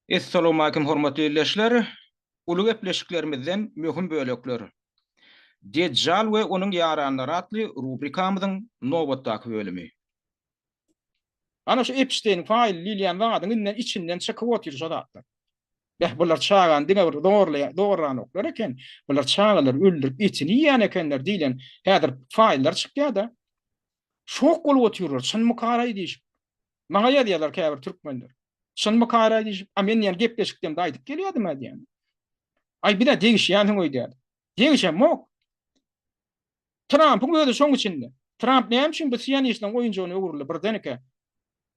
Essalawmalikim hormatly ildeşler! Uly gepleşiklerimizden möhüm bölekler. Dejjal we onuň ýaranlary atly rubrikamyzyň nobatdaky bölümi. Ana şu Epşteýn faýly diýilýän zadyň inden içinden çykyp otyr şo zatlar. Beh bular çagany diňe bir zorlaýan doguranoklar eken. Bular çagalary öldürip etini iýýän ekenler diýlen häzir faýllar çykýada. Şok bolup otyrlar çynmykaraý diýşip. Maňa ýazýarlar käbir türkmenler. Şunmykaýra diýip, a men diýen gepleşiklerimde aýdyp gelýärdim a diýen. Aý bir-ä degişýänsiň öýdýär. Degişemok. Trampyň özi şoň içinde. Tramp näme üçin bu sionistleň oýunjygyna öwrüldi birdenike?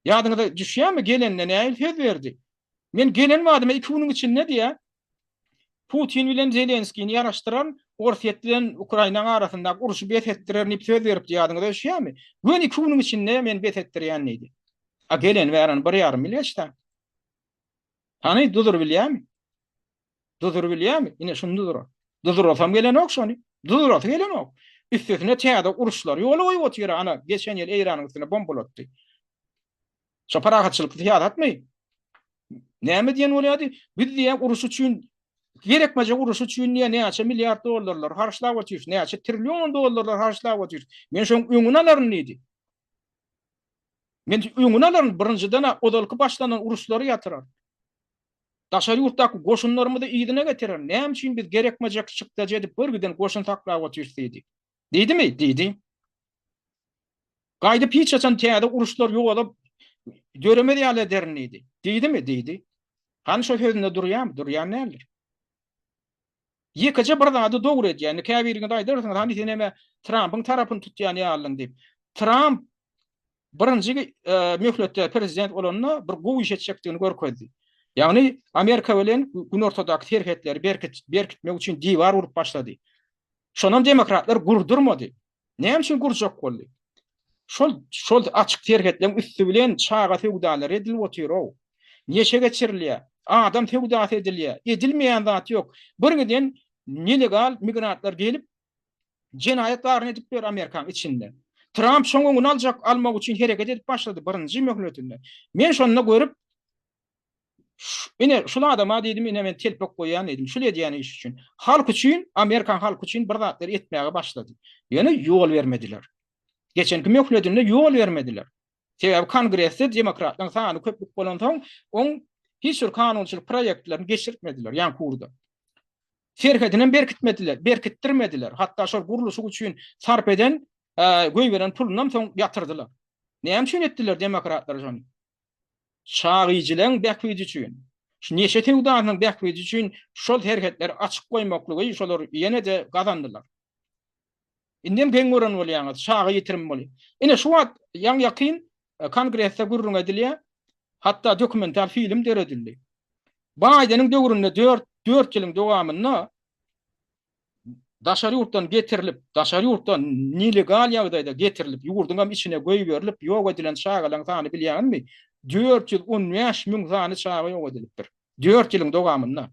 Ýadyňyza düşýärmi gelende nähili söz berdi? Men gelen badyma iki günüň içinde diýä, Putin bilen Zelenskini ýaraşdyran Orsýet bilen Ukrainanyň arasyndaky urşy bes etdirerin diýip söz beripdi, ýadyňyza düşýärmi? Göni iki günüň içinde men bes etdirýän diýdi. A gelen bären bir ýarym ýyl geçdi. Hany dudur bilýärmi? Dudur bilýärmi? Ine şuny dudur. Dudurasam gelenok şony. Dudurasy gelenok. Üstesine täze uruşlar ýola goýup otyr ana geçen ýyl Eýranyň üstüne bombalatdy. Şu parahatçylykly syýasatmy? Näme diýen bolýardy? Biz diýä uruş üçin gerekmejek uruş üçin diýä näçe milliard dollarlar harçlap otyrys, näçe trillion dollarlar harçlap otyrys. Men şoň öňüni alaryn diýdi. Men öňüni alaryn, birinjiden ozalky başlanan uruşlary ýatyrar. Daşary ýurtdaky goşunlarymyzy yzyna getirer. Näme üçin biz gerekmejek çykdajy edip bir giden goşun saklap otyrys diýdi. Diýdimi? Diýdi. Gaýdyp hiç haçan täze uruşlar ýogalyp döremez ýaly ederin diýdi. Diýdimi? Diýdi. Hany şo sözünde durýarmy? Durýan näler? Ýekeje bir zady dogry edýär. Indi käbiriňiz aýdarsyňyz, hany sen näme Trampyň tarapyny tutýan ýalyň diýip. Tramp birinji e, möhletde prezident bolanda bir gowy iş etjekdigini görkezdi. Ýagny Amerika bilen günortadaky serhetleri berkitmek üçin diwar urup başlady. Şonam demokratlar gurdurmady. Näme üçin gurjak boldy? Şol şol açyk serhetleň üsti bilen çaga söwdalary edilip otyr-ow. Neşe geçirilýär, adam söwdasy edilýär. Edilmeýän zat ýok. Bir giden nelegal migrantlar gelip jenaýat baryny edip ber Amerikanyň içinde. Tramp şoň öňüni aljak, almak üçin hereket edip başlady birinji möhletinde. Men şonda görüp Ine, şul adama diýdim, ine men telpek goýýan diýdim, şul edýän iş üçin. Halk üçin, amerikan halky üçin bir zatlar etmäge başlady. Ýöne ýol bermediler. Geçenki möhledinde ýol bermediler. Sebäbi kongresde demokratlaryň sany köplük bolansoň, oň hiç bir kanunçylyk proýektlerini geçirtmediler, ýan kurda. Serhedini berkitmediler, berkitdirmediler. Hatda şol gurluşyk üçin sarp eden, e, göýberen pulundan soň ýatyrdylar. Näme üçin etdiler demokratlar şony? Çagyjylaryň bähbidi üçin, şu neşe söwdasynyň bähbidi üçin şol serhetleri açyk goýmaklygy şolar ýene-de gazandylar. Indem geň gören bolýaňyz, çaga ýitirim bolýar. Ine, şu wagt ýaňy-ýakyn Kongresde gürrüň edilýär, hatda dokumental film döredildi. Baýdeniň döwründe dört ýylyň dowamynda daşary ýurtdan getirilip, daşary ýurtdan nelegal ýagdaýda getirilip, ýurduň hem içine goýberilip, ýok edilen çagalaryň sany bilýäňizmi? Dört ýüz on bäş müň sany çaga ýok edilipdir. Dört ýylyň dowamynda.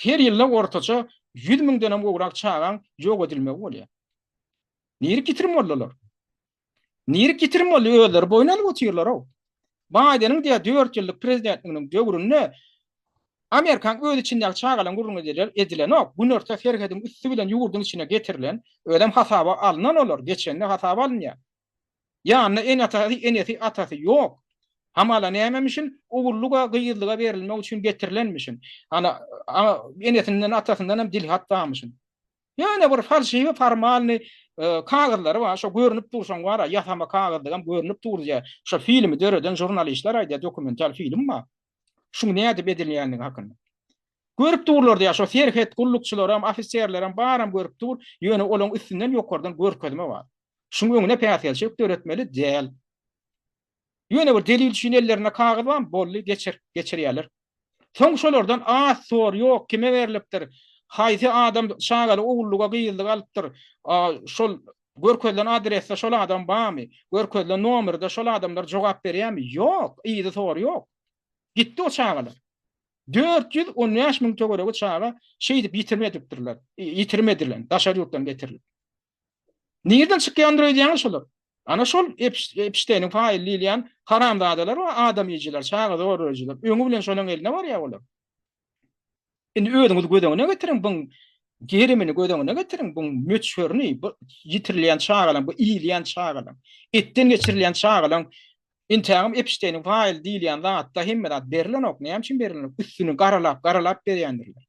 Her ýylda ortaça ýüz müňden hem gowrak çagaň ýok edilmegi bolýar. Nirek ýitirim boldular? Nirik ýitirim boldy, özleri boýun alyp otyrlar-ow. Baýdeniň diýýär, dört ýyllyk prezidentliginiň döwründe Amerikaň öz içindäki çagalaň gürrüňi ediler, edilenok. Günorta serhediň üsti bilen ýurduň içine getirilen, özem hasaba alynan olar, geçende hasaba alynýar. Ýanynda ene-atasy, enesi, atasy ýok. Hamala nämemişin, ogullyga, gyzlyga berilmek üçin getirilenmişin. Ana, a enesinden, atasyndanam dilhat barmyşyn. Ýöne bir falşiwi formalny kagyzlary bar, şo görnüp dur şoň bar-a, ýasama kagyzdygam görnüp dur diýýär. Şo filmi döreden žurnalistler aýdýar, dokumental film bar. Şuň nädip edilýändigi hakynda. Görüp durlar diýýär, şo serhet gullukçylaram, ofiserlerem baram görüp dur, ýöne olaň üstünden ýokardan görkezme bar. Şuň öňüne päsgelçilik döretmeli däl. Ýöne bir delil üçin ellerinde kagyz barmy? Boldy, geçir, geçirýärler. Soň şolardan az sor ýok, kime berlipdir, haýsy adam çagaly ogullyga, gyzlyga alypdyr, şol görkezilen adresde şol adam barmy, görkezilen nomerde şol adamlar jogap berýärmi? Ýok, yzy sor ýok. Gitdi o çagalar. Dört ýüz on bäş müň töweregi çaga şeýdip ýitirmedipdirler, ýitirmedilen, daşary ýurtdan getirilip. Nirden çykýandyr öýdýäňiz şolar? Ana şol Epşteýniň faýyl diýilýän haramzadalar we adam iýijiler, çaga zorlaýjylar. Öňi bilen şolaryň eline barýar olar. Indi özüňiz göz öňüne getiriň buň gerimini göz öňüne getiriň buň möçberini, bu ýitirilýän çagalaryň, bu iýilýän çagalaryň, etden geçirilýän çagalaryň Intägim Epşteýniň faýyl diýilýän zatda hemme zat berilenok. Näme üçin berilenok? Üstüni garalap, garalap berýändirler.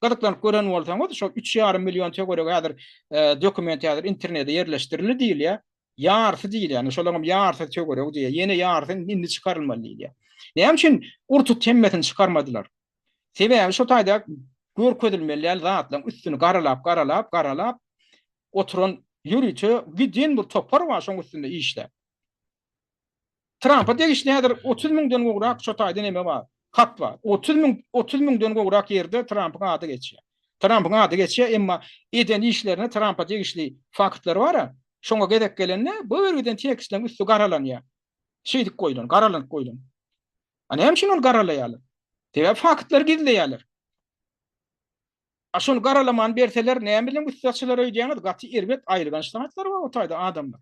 Gyzyklanyp gören bolsaňyz, şol üç ýarym million töweregi häzir e, dokument häzir internete ýerleşdirildi diýilýär. Ýarsy diýilýär. Yani şolaryň ýarsy töweregi diýilýär. Ýene ýarsy indi çykarylmaly diýilýär. Näme üçin urtut hemmesini çykarmadylar? Sebäbi şu taýda görkezilmeli däl zatlaryň üstüni garalap, garalap, garalap oturan ýörite giden bir topar bar şoň üstünde işläp. Trampa degişli häzir otuz müňden gowrak şo taýda neme bar, hat bar. Otuz müň, otuz müňden gowrak ýerde Trampyň ady geçýär. Trampyň ady geçýär, emma eden işlerine Trampa degişli faktlar bar-a. Şoňa gezek gelende, bu giden tekstleriň üsti garalanýar. Şeýdip goýlan, garalanyp goýlan. A näme üçin ony garalaýarlar? Sebäbi faktlary gizleýärler. A şony garalaman berseler, näme bilen üsti açylar öýdýäňiz? Gaty erbet aýylganç zatlar bar o taýda adamlar.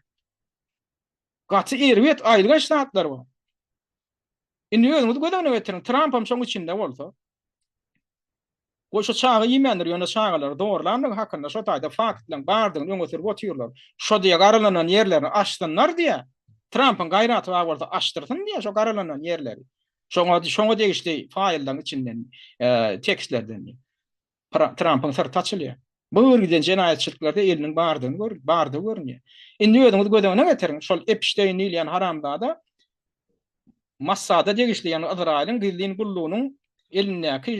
Gaty erbet, aýylganç zatlar bar. Indi özüňiz göz öňüne getiriň, Trampam şoň içinde bolsa. Goý şo çaga iýmändir, ýöne çagalary zorlandygy hakynda şo taýda faktlaryň bardygyny öňe sürüp otyrlar. Şo diýe garalanan ýerlerini açsynlar diýe, Trampyň gaýraty bar bolsa açdyrsyn diýe şo garalanan ýerleri. Şoňa şoňa degişli faýllaryň içinden, tekstlerden. Trampyň syrty açylýar. Bu bir giden jenaýatçylyklarda eliniň bardygyny gör, bardygy görünýär. Indi özüňiz göz öňüne getiriň, şol Epşteýn diýilýän haramzada Mossada degişli, ýagny Ysraýylyň gizlin gullugynyň elindäki,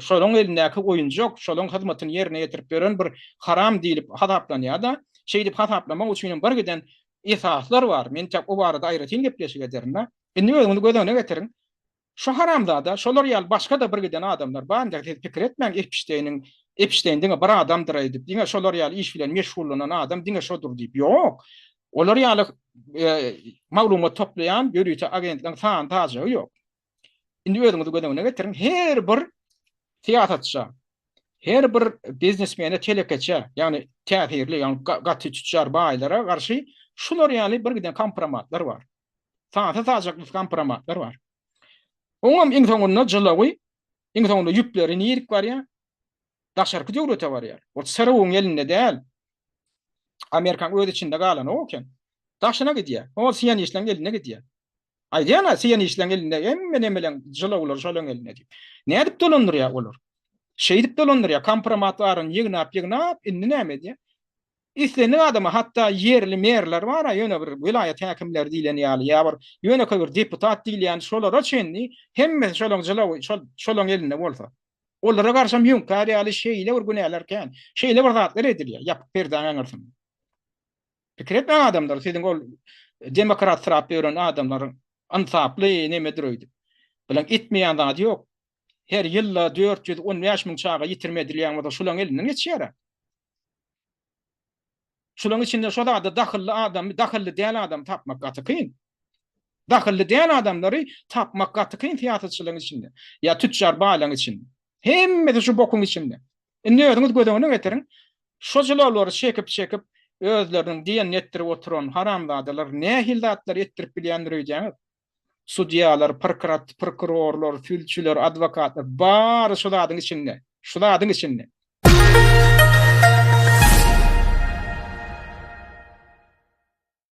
şolaryň elindäki oýunjak, şolaryň hyzmatyny ýerine ýetirip ýören bir haram diýlip hasaplanýar-da, şeýdip hasaplamak üçin hem bir giden esaslar bar. Men tä o barada aýratyn gepleşik ederin-de. Indi özüňiz göz öňüne getiriň, Şu haramzada şolar ýaly başga-da bir giden adamlar bar indi siz pikir etmäň Epişteýniň Epişteýn diňe bir adamdyr eýdip diňe şolar ýaly iş bilen meşgullanan adam diňe şodur diýip ýok olar ýaly maglumat toplaýan ýörite agentligiň sany tajagy ýok indi özüňizi göz öňüne getiriň her bir syýasatça her bir biznesmene telekeçe ýagny täsirli ýagny gaty tüçjar baýlara garşy şular ýaly bir giden kompromatlar bar Sata sajak nusgan promatlar bar. Oňam iň soňunda jylawy, iň soňunda ýüpleri nirik barýar? Daşarky döwlete barýar. Ol SRU-nyň elinde däl. Amerikaň öz içinde galanok eken. Daşyna gidýär. Ol sionistleň eline gidýär. Aýdýan-a, sionistleň elinde hemme nemeleň jylawlary şolaň elinde diýip. Nädip dolandyrýar olar? Şeýdip dolandyrýar, kompromatlaryny ýygnap-ýygnap, indi näme edýär? Islendik adama hatda ýerli merler bar-a, ýöne bir welaýat häkimleri diýleni ýaly, ýa bir ýönekeý bir deputat diýilýän şolara çenli hemmesi şolaň jylawy, şol şolaň elinde bolsa. Olara garşam ýüňkär ýaly şeýle bir günäler kän, şeýle bir zatlar edilýär ýapyk perdäň aňyrsynda. Pikir etmäň adamlar, siziň ol demokratsyrap ýören adamlaryň ynsaply nemedir öýdüp. Bilaň etmeýän zady ýok. Her ýylda dört ýüz on bäş müň çaga ýitirim edilýän bolsa şolaň elinden geçýär-ä. Şularyň içinde şo zada dahylly adamy, dahylly däl adamy tapmak gaty kyn. Dahylly däl adamlary tapmak gaty kyn syýasatçylaryň içinde. Ýa tüçjar baýlaryň içinde. Hemmesi şu bokuň içinde. Indi özüňiz göz öňüne getiriň. Şo jylawlary çekip çekip özleriniň diýenini etdirip oturan haramzadalar nähili zatlar etdirip bilýändir öýdýäňiz? sudýalar, prokrat, prokurorlar, sülçüler, adwokatlar, bary şu zadyň içinde, şu zadyň içinde.